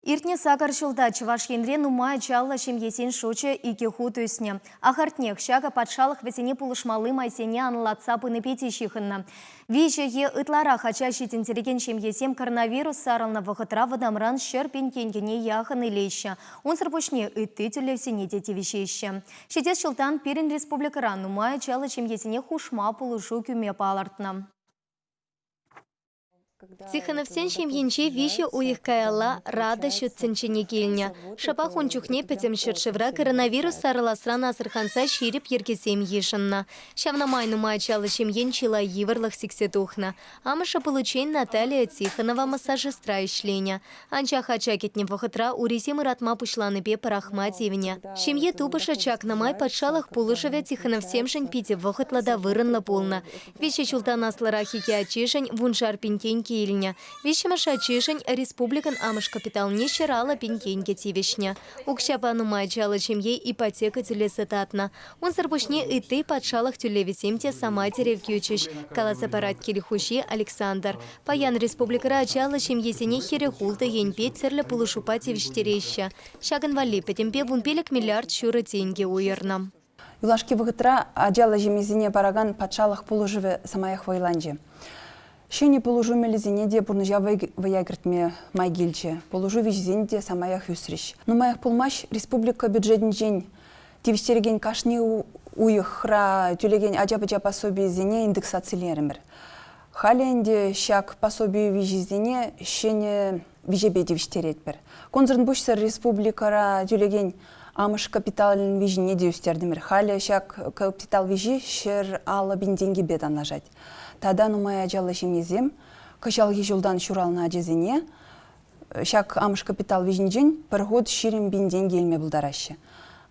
Иртнӗ сакӑр ҫулта Чӑваш Енре нумай ачаллӑ ҫемьесен шучӗ икӗ хут ӳснӗ. Ахӑртнех, ҫакӑ патшалӑх вӗсене пулӑшмалли майсене анлӑлатса пынипе те ҫыхӑннӑ. Виҫӗ е ытларах ача ҫитӗнтерекен ҫемьесем коронавирус сарӑлнӑ вӑхӑтра вӑтамран ҫӗр пин тенкӗне яхӑн илеҫҫӗ, унсӑр пуҫне ытти тӗллевсене те тивӗҫеҫҫӗ. Ҫитес ҫултан пирӗн республикӑра нумай ачаллӑ ҫемьесене хушма пулӑшу кӳме палӑртнӑ. Тихоновсен ҫемйинче виҫӗ уйӑх каялла Рада ҫут тӗнчене килнӗ. Шӑпах ун чухне пӗтӗм ҫӗршывра коронавирус сарӑласран асӑрханса ҫирӗп йӗркесем йышӑннӑ. Ҫавна май нумай ачаллӑ ҫемьен чылай йывӑрлӑх сиксе тухнӑ. Амӑшӗ пуличчен Наталия Тихонова массажистра ӗҫленӗ. Анчах ача кӗтнӗ вӑхӑтра урисем ыратма пуҫланипе пӑрахма тивнӗ. Ҫемье тупӑшӗ чакнӑ май патшалӑх пулӑшӑвӗ Тихоновсемшӗн питӗ вӑхӑтлӑ та вырӑнлӑ пулнӑ. Виҫӗ ҫултан аслӑрах икӗ ачишӗн вуншар пин тенкӗ илнӗ. Виҫҫӗмӗш ачишӗн республикӑн амӑш капиталне ҫӗр алӑ пин тенкӗ тивӗҫнӗ. Укҫапа нумай ачаллӑ ҫемье ипотека тӳлесе татнӑ. Унсӑр пуҫне ытти патшалӑх тӳлевӗсем те самай тӗрев кӳчӗҫ, каласа парать кил хуҫи Александр. Паян республикӑра ачаллӑ ҫемьесене хӗрӗх-ултӑ енпе тӗрлӗ пулӑшупа тивӗҫтереҫҫӗ. Ҫакӑн валли пӗтӗмпе вун пилӗк миллиард ҫурӑ тенкӗ уйӑрнӑ. Юлашки вӑхӑтра ачаллӑ ҫемьесене паракан патшалӑх пулӑшӑвӗ самаях вӑйланчӗ. Ҫӗнӗ пулӑшу мелӗсене те пурнӑҫа вӑя кӗртме май килчӗ, пулӑшу виҫисен те самаях ӳсрӗҫ. Нумаях пулмасть республика бюджетӗнчен тивӗҫтерекен кашни уйӑхра тӳлекен ача-пӑча пособийӗсене индексацилерӗмӗр. Халӗ ӗнтӗ ҫак пособи виҫисене ҫӗнӗ виҫепе тивӗҫтеретпӗр. Кунсӑртпуҫсӑр республикӑра тӳлекен амӑш капиталӗн виҫине те ӳстертӗмӗр. Халӗ ҫак капитал виҫи ҫӗр аллӑ пин тенкӗпе танлашать. Тата нумай ачаллӑ ҫемьесем кӑҫалхи ҫултан ҫуралнӑ ачасене ҫак амӑш капитал виҫинчен пӗр хут ҫирӗм пин тенкӗ илме пултараҫҫӗ.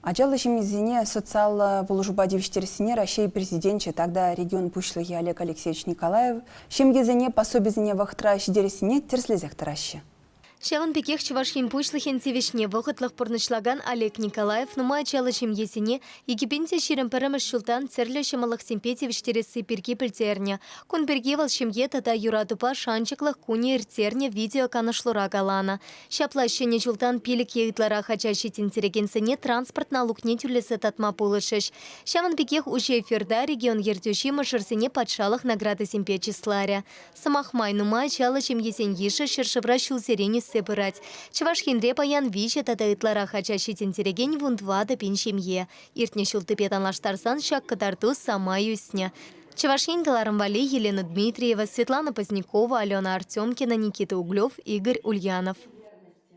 Ачаллӑ ҫемьесене социаллӑ пулӑшупа тивӗҫтерессине Раҫҫей Президенчӗ тата регион Пуҫлӑхӗ Олег Алексеевич Николаев ҫемьесене пособисене вӑхӑтра ҫитерессине тӗрӗслесех тӑраҫҫӗ. Ҫавӑн пекех Чӑваш Ен Пуҫлӑхӗн тивӗҫне вӑхӑтлӑх пурнӑҫлакан Олег Николаев нумай ачаллӑ ҫемьесене икӗпен те ҫирӗм пӗрремӗш ҫултан тӗрлӗ ҫӑмӑллӑхсемпе тивӗҫтересси пирки пӗлтернӗ. Кун пирки вӑл Ҫемье тата юратупа шанчӑклӑх кунӗ ирттернӗ видеоканӑшлура каланӑ. Ҫапла ҫӗнӗ ҫултан пилӗк е ытларах ача ҫитӗнтерекенсене транспорт налукне тӳлесе татма пулӑшӗҫ. Ҫавӑн пекех уҫӑ эфирта регион ертӳҫи мӑшӑрсене патшалӑх наградисемпе чысларӗ. Сӑмах май, нумай ачаллӑ ҫемьесен йышӗ ҫӗршывра ҫулсерен ӳссе пырать. Чӑваш Енре паян виҫӗ тата ытларах ача ҫитӗнтерекен вун тӑватӑ пин ҫемье. Иртнӗ ҫултипе танлаштарсан ҫак кӑтарту самай ӳснӗ. Чӑваш Ен кӑларӑм валли Елена Дмитриева, Светлана Позднякова, Алена Артемкина, Никита Углев, Игорь Ульянов.